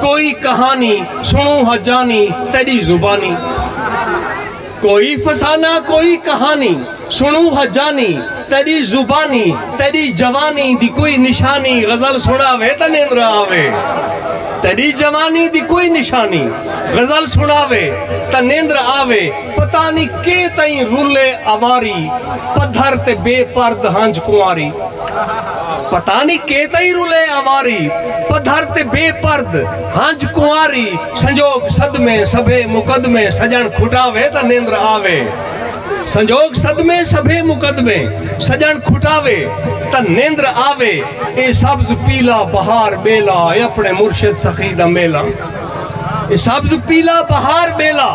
کوئی کہانی سنوں ہا جانی تیڈی زبانی کوئی فسانہ کوئی کہانی سنوں ہا جانی تیڈی زبانی تیڈی جوانی دی کوئی نشانی غزل سناوے تاں نیندر آوے تیڈی جوانی دی کوئی نشانی غزل سناوے تاں نیندر آوے پتہ نی کے تئیں رلے اواری پدھر تے بے پرد ہنج کنواری پتہ نی کے تئیں رلے آواری پدھر تے بے پرد ہنج کنواری سنجوگ صدمے سبھے مقدمے سجن کھٹاوے تاں نیندر آوے سنجوگ صدمے سبھے مقدمے سجن کھٹاوے تاں نیندر آوے اے سبز پیلا بہار بیلا اے اپنے مرشد سخی دا میلا اے سبز پیلا بہار بیلا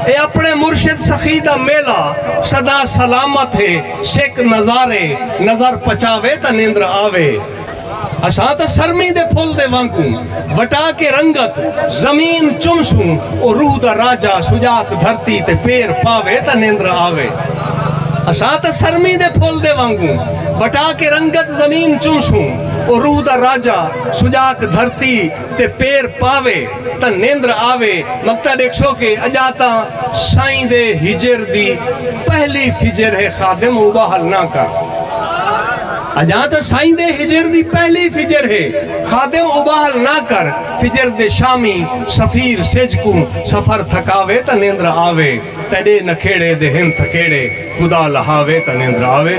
اے اپنے مرشد سخی دا میلا صدا سلامت ہے سک نظارے نظر پچاوے تاں نیندر آوے اساں تاں سرمی دے پھل دے وانگوں وٹا کے رنگت زمین چمسوں او روح دا راجہ سجاک دھرتی تے پیر پاوے تاں نیندر آوے اساں تاں سرمی دے پھل دے وانگوں وٹا کے رنگت زمین چمسوں او روح دا راجہ سجاک دھرتی تے پیر پاوے تاں نیندر آوے مکتا ڈیکھسو کہ اجا تاں سائیں دے ہجر دی پہلی فجر ہے خادم اوباہل نہ کر اجا تاں سائیں دے ہجر دی پہلی فجر ہے خادم اوباہل نہ کر فجر دے شامی سفیر سج کو سفر تھکاوے تاں نیندر آوے تیڈے نکھیڑے دے ہن تھکیڑے خدا لہاوے تاں نیندر آوے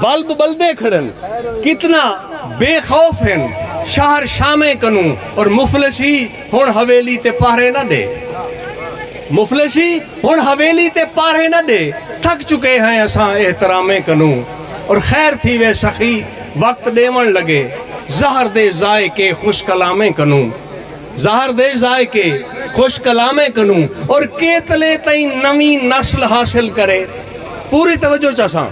بلب بلدے کھڑن کتنا بے خوف ہن شہر شامیں کنوں اور مفلسی ہن حویلی تے پہرے نہ ڈے مفلسی ہن حویلی تے پہرے نہ ڈے تھک چکے ہیں اساں احترامیں کنوں اور خیر تھی وے سخی وقت ڈیون لگے زہر دے ذائقے خوش کلامیں کنوں زہر دے ذائقے، خوش کلامیں کنوں اور کیتلے تئیں نویں نسل حاصل کرے۔ پوری توجہ چاساں۔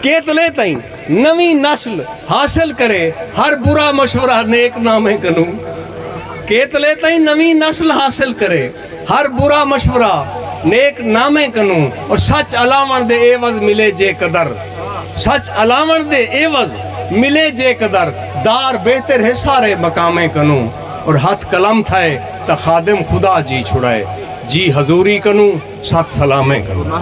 کیتلے تئیں نویں نسل حاصل کرے ہر برا مشورہ نیک نامیں کنوں۔ کیتلے تئیں نویں نسل حاصل کرے۔ ہر برا مشورہ نیک نامیں کنوں اور سچ الاوݨ دے عیوض ملے جے قدر سچ الاوݨ دے عیوض ملے جے قدر دار بہتر ہے سارے مقامیں کنوں اور ہتھ قلم تھئے تاں خادم خدا جی چھڑائے جی حضوری کنوں ست سلامیں کنوں۔